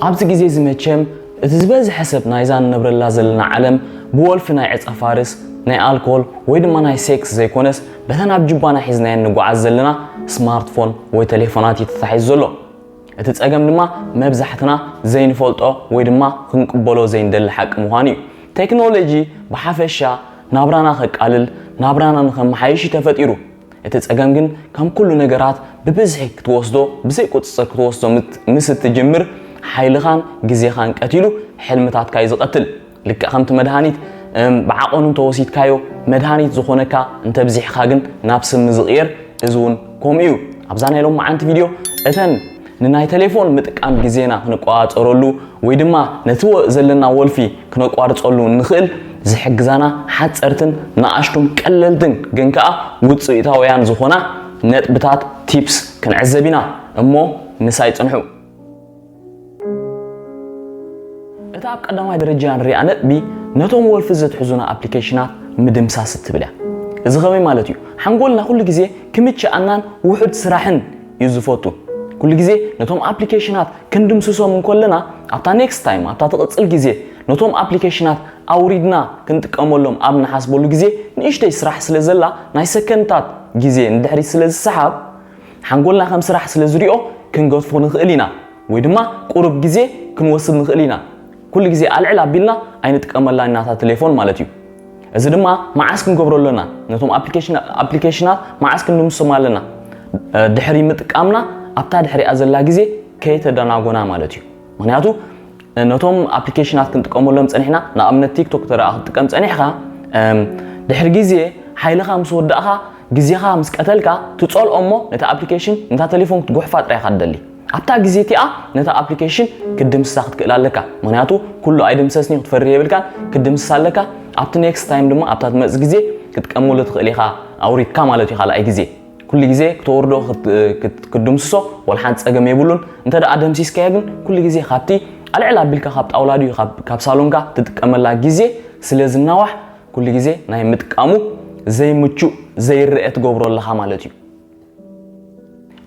ኣብዚ ግዜ'ዚ መቸም እቲ ዝበዝሐ ሰብ ናይዛ ንነብረላ ዘለና ዓለም ብወልፊ ናይ ዕጸፋርስ፣ ናይ ኣልኮል ወይ ድማ ናይ ሴክስ ዘይኮነስ በተን ኣብ ጁባና ሒዝናየን ንጎዓዝ ዘለና ስማርትፎን ወይ ተሌፎናት እዩ ተታሒዙ ዘሎ። እቲ ጸገም ድማ መብዛሕትና ዘይንፈልጦ ወይ ድማ ክንቅበሎ ዘይንደሊ ሓቂ ምዃኑ እዩ። ቴክኖሎጂ ብሓፈሻ ናብራና ከቃልል፣ ናብራና ንኸመሓይሽ እዩ ተፈጢሩ። እቲ ጸገም ግን ከም ኩሉ ነገራት ብብዝሒ ክትወስዶ ብዘይ ቁጽጽር ክትወስዶ ምስ እትጅምር ሓይልኻን ግዜኻን ቀቲሉ ሕልምታትካ እዩ ዝቐትል። ልክዕ ከምቲ መድሃኒት ብዓቐኑ እንተወሲድካዮ መድሃኒት ዝኾነካ እንተብዚሕኻ ግን ናብ ስሚ ዝቕየር እዚ እውን ከምኡ እዩ። ኣብዛ ናይ ሎማዓንቲ ቪድዮ እተን ንናይ ተሌፎን ምጥቃም ግዜና ክንቆጻጸረሉ ወይ ድማ ነቲ ዘለና ወልፊ ክነቋርጸሉ እንኽእል ዝሕግዛና ሓጸርትን ንኣሽቱን ቀለልትን ግን ከኣ ውጽኢታውያን ዝኾና ነጥብታት፣ Tips፣ ክንዕዘብ ኢና። እሞ ምሳይ ጽንሑ። እታ ኣብ ቀዳማይ ደረጃ ንሪኣ ነጥቢ ነቶም ወልፊ ዘትሕዙና ኣፕሊኬሽናት ምድምሳስ እትብል እያ። እዚ ከመይ ማለት እዩ? ሓንጎልና ኩሉ ግዜ ክምችኣናን ውሑድ ስራሕን እዩ ዝፈቱ። ኩሉ ግዜ ነቶም ኣፕሊኬሽናት ክንድምስሶም እንኮለና ኣብታ ኔክስት ታይም ኣብታ ትቕጽል ግዜ ነቶም ኣፕሊኬሽናት ኣውሪድና ክንጥቀመሎም ኣብ ንሓስበሉ ግዜ ንእሽተይ ስራሕ ስለ ዘላ ናይ ሰከንድታት ግዜ ንድሕሪት ስለ ዝሰሓብ ሓንጎልና ከም ስራሕ ስለ ዝሪኦ ክንገድፎ ንኽእል ኢና ወይ ድማ ቁሩብ ግዜ ክንወስድ ንኽእል ኢና። ኩሉ ግዜ ኣልዕል ኣቢልና ኣይንጥቀመላን ኢና እታ ተሌፎን ማለት እዩ። እዚ ድማ መዓስ ክንገብሮ ኣለና? ነቶም ኣፕሊኬሽናት መዓስ ክንድምስሶም ኣለና? ድሕሪ ምጥቃምና ኣብታ ድሕሪኣ ዘላ ግዜ ከይተደናጎና ማለት እዩ። ምክንያቱ ነቶም ኣፕሊኬሽናት ክንጥቀመሎም ጸኒሕና ንኣብነት ቲክቶክ ተደኣ ክትጥቀም ጸኒሕካ ድሕሪ ግዜ ሓይልኻ ምስ ወዳእኻ ግዜኻ ምስ ቀተልካ ትጸልኦ እሞ ነቲ ኣፕሊኬሽን ነታ ተሌፎን ክትጉሕፋ ጥራይ ኢኻ ትደሊ። ኣብታ ግዜ እቲኣ ነታ ኣፕሊከሽን ክትድምስሳ ክትክእል ኣለካ ምክንያቱ ኩሉ ኣይድምሰስን እዩ ክትፈርህ የብልካን ክትድምስሳ ኣለካ ኣብቲ ኔክስት ታይም ድማ ኣብታ ትመጽእ ግዜ ክትቀመሉ ትክእል ኢካ ኣውሪድካ ማለት እዩ ካልኣይ ግዜ ኩሉ ግዜ ክተወርዶ ክትድምስሶ ወላ ሓንቲ ጸገም የብሉን እንተ ደኣ ደምሲስካዮ ግን ኩሉ ግዜ ካብቲ ኣልዕል ኣቢልካ ካብ ጣውላ ድዩ ካብ ሳሎንካ ትጥቀመላ ግዜ ስለ ዝናዋሕ ኩሉ ግዜ ናይ ምጥቃሙ ዘይምቹእ ዘይረአ ትገብሮ ኣለካ ማለት እዩ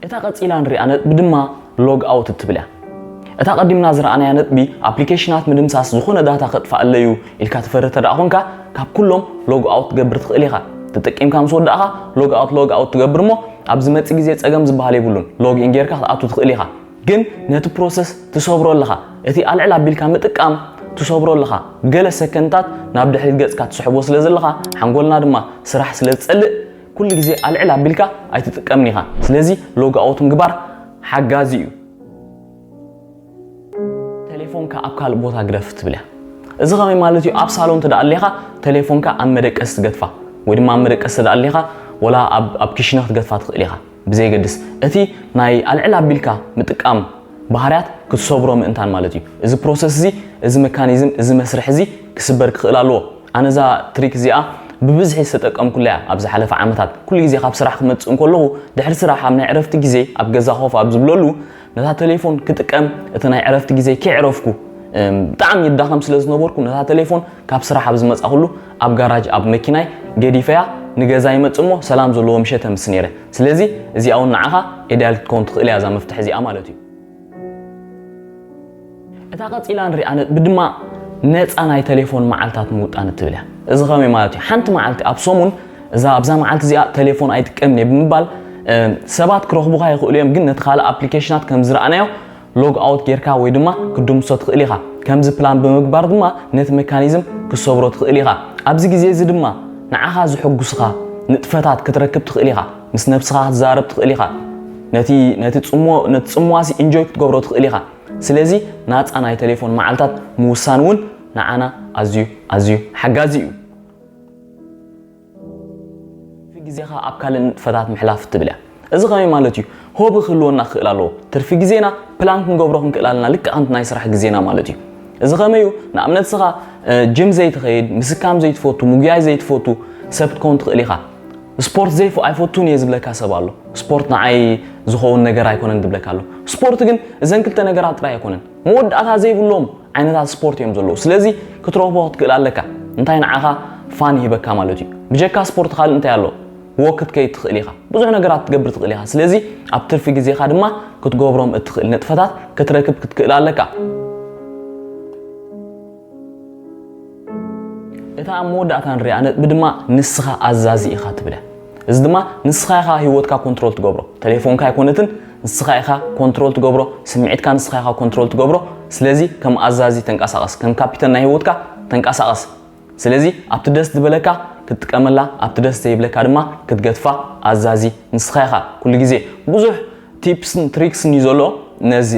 እታ ቀጺላ ንሪኣ ነጥቢ ድማ ሎግ ኣውት እትብል እያ። እታ ቀዲምና ዝረኣናያ ነጥቢ ኣፕሊኬሽናት ምድምሳስ ዝኾነ ዳታ ከጥፍኣለይ'ዩ ኢልካ ትፈርህ ተድኣ ኮንካ ካብ ኩሎም ሎግ ኣውት ክትገብር ትኽእል ኢኻ። ተጠቂምካ ምስ ወዳእኻ ሎግ ኣውት ሎግ ኣውት ትገብር እሞ ኣብ ዝመጽእ ግዜ ጸገም ዝበሃል የብሉን ሎግ ኢን ጌርካ ክትኣቱ ትኽእል ኢኻ። ግን ነቲ ፕሮሰስ ትሰብሮ ኣለኻ። እቲ ኣልዕል ኣቢልካ ምጥቃም ትሰብሮ ኣለኻ። ገለ ሰከንድታት ናብ ድሕሪት ገጽካ ትስሕቦ ስለ ዘለኻ ሓንጎልና ድማ ስራሕ ስለ ዝጸልእ ኩሉ ግዜ ኣልዕል ኣቢልካ ኣይትጥቀምን ኢኻ ስለዚ ሎግ ኣውት ምግባር ሓጋዚ እዩ። ተሌፎንካ ኣብ ካልእ ቦታ ግደፍ ትብል እያ እዚ ከመይ ማለት እዩ ኣብ ሳሎን እንተ ኣሊኻ ተሌፎንካ ኣብ መደቀሲ ትገድፋ ወይ ድማ ኣብ መደቀሲ እንተ ኣሊኻ ወላ ኣብ ኪሽነ ክትገድፋ ትኽእል ኢኻ። ብዘየገድስ እቲ ናይ ኣልዕል ኣቢልካ ምጥቃም ባህርያት ክትሰብሮ ምእንታን ማለት እዩ። እዚ ፕሮሰስ እዚ፣ እዚ መካኒዝም፣ እዚ መስርሕ እዚ ክስበር ክኽእል ኣለዎ። ኣነ እዛ ትሪክ እዚኣ ብብዝሒ ዝተጠቀምኩላ እያ ኣብ ዝሓለፈ ዓመታት። ኩሉ ግዜ ካብ ስራሕ ክመጽእ እንከለኹ፣ ድሕሪ ስራሕ ኣብ ናይ ዕረፍቲ ግዜይ ኣብ ገዛ ኮፍ ኣብ ዝብለሉ ነታ ተሌፎን ክጥቀም እቲ ናይ ዕረፍቲ ግዜይ ከየዕረፍኩ ብጣዕሚ ይዳኸም ስለ ዝነበርኩ ነታ ተሌፎን ካብ ስራሕ ኣብ ዝመጻኹሉ ኣብ ጋራጅ ኣብ መኪናይ ገዲፈያ ንገዛ ይመጽእ እሞ ሰላም ዘለዎ ምሸት ተምሲ ነይረ። ስለዚ እዚኣ ውን ንዓኻ ኤድያል ክትከውን ትኽእል እያ እዛ መፍትሕ እዚኣ ማለት እዩ። እታ ቀጺላ ንሪኣ ነጥቢ ድማ ነጻ ናይ ተሌፎን መዓልታት ምውጣን እትብል እያ። እዚ ከመይ ማለት እዩ? ሓንቲ መዓልቲ ኣብ ሰሙን እዛ ኣብዛ መዓልቲ እዚኣ ተሌፎን ኣይጥቀምን እየ ብምባል ሰባት ክረኽቡኻ ይኽእሉ እዮም ግን ነቲ ካልእ ኣፕሊኬሽናት ከም ዝረኣናዮ ሎግ ኣውት ጌርካ ወይ ድማ ክትድምሶ ትኽእል ኢኻ። ከምዚ ፕላን ብምግባር ድማ ነቲ መካኒዝም ክትሰብሮ ትኽእል ኢኻ። ኣብዚ ግዜ እዚ ድማ ንዓኻ ዝሕጉስኻ ንጥፈታት ክትረክብ ትኽእል ኢኻ። ምስ ነብስኻ ክትዛረብ ትኽእል ኢኻ። ነቲ ነቲ ጽምዎ ነቲ ጽምዋሲ ኢንጆይ ክትገብሮ ትኽእል ኢኻ። ስለዚ ናጻ ናይ ተሌፎን መዓልታት ምውሳን እውን ንዓና ኣዝዩ ኣዝዩ ሓጋዚ እዩ። ትርፊ ግዜኻ ኣብ ካልእ ንጥፈታት ምሕላፍ እትብል እያ። እዚ ከመይ ማለት እዩ? ሆቢ ክህልወና ክኽእል ኣለዎ። ትርፊ ግዜና ፕላን ክንገብሮ ክንክእል ኣለና፣ ልክዕ ከምቲ ናይ ስራሕ ግዜና ማለት እዩ። እዚ ከመይ እዩ? ንኣብነት እስኻ ጅም ዘይትኸይድ፣ ምስካም ዘይትፈቱ፣ ምጉያይ ዘይትፈቱ ሰብ ክትከውን ትኽእል ኢኻ። ስፖርት ዘይፈ ኣይፈቱን እየ ዝብለካ ሰብ ኣሎ። ስፖርት ንዓይ ዝኸውን ነገር ኣይኮነን ዝብለካ ኣሎ። ስፖርት ግን እዘን ክልተ ነገራት ጥራይ ኣይኮነን። መወዳእታ ዘይብሎም ዓይነታት ስፖርት እዮም ዘለዉ ስለዚ ክትረኽቦ ክትክእል ኣለካ እንታይ ንዓኻ ፋን ይህበካ ማለት እዩ ብጀካ ስፖርት ካልእ እንታይ ኣሎ ወክ ክትከይድ ትኽእል ኢኻ ብዙሕ ነገራት ክትገብር ትኽእል ኢኻ ስለዚ ኣብ ትርፊ ግዜኻ ድማ ክትገብሮም እትኽእል ንጥፈታት ክትረክብ ክትክእል ኣለካ እታ ኣብ መወዳእታ ንሪኣ ነጥቢ ድማ ንስኻ ኣዛዚ ኢኻ ትብለ። እዚ ድማ ንስኻ ኢኻ ህይወትካ ኮንትሮል ትገብሮ። ተሌፎንካ ኣይኮነትን፣ ንስኻ ኢኻ ኮንትሮል ትገብሮ፣ ስምዒትካ ንስኻ ኢኻ ኮንትሮል ትገብሮ። ስለዚ ከም ኣዛዚ ተንቀሳቐስ፣ ከም ካፒተን ናይ ህይወትካ ተንቀሳቐስ። ስለዚ ኣብቲ ደስ ዝበለካ ክትጥቀመላ፣ ኣብቲ ደስ ዘይብለካ ድማ ክትገትፋ ኣዛዚ ንስኻ ኢኻ። ኩሉ ግዜ ብዙሕ ቲፕስን ትሪክስን እዩ ዘሎ ነዚ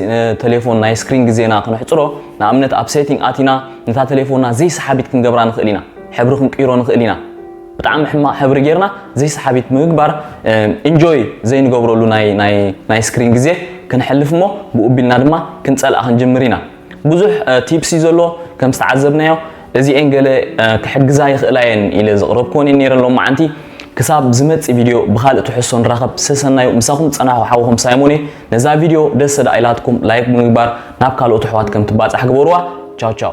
ተሌፎን ናይ ስክሪን ግዜና ክነሕፅሮ ንኣብነት ኣብ ሴቲንግ ኣቲና ነታ ተሌፎንና ዘይሰሓቢት ክንገብራ ንኽእል ኢና ሕብሪ ክንቅይሮ ንኽእል ኢና ብጣዕሚ ሕማቕ ሕብሪ ጌርና ዘይሰሓቢት ምግባር ኢንጆይ ዘይንገብረሉ ናይ ስክሪን ግዜ ክንሕልፍ እሞ ብኡ ቢልና ድማ ክንፀልኣ ክንጅምር ኢና ብዙሕ ቲፕስ እዩ ዘሎ ከም ዝተዓዘብናዮ እዚኤን ገለ ክሕግዛ ይኽእላ እየን ኢለ ዘቕረብክወን እየን ነይረ ሎማዓንቲ። ክሳብ ዝመጽእ ቪድዮ ብኻልእ ትሕዝቶ ንራኸብ። ሰሰናዩ ምሳኹም ዝጸናሕኩ ሓውኹም ሳይሞን እየ። ነዛ ቪድዮ ደስ ተድኣ ኢላትኩም ላይክ ብምግባር ናብ ካልኦት ኣሕዋት ከም ትባጻሕ ግበሩዋ። ቻው ቻው።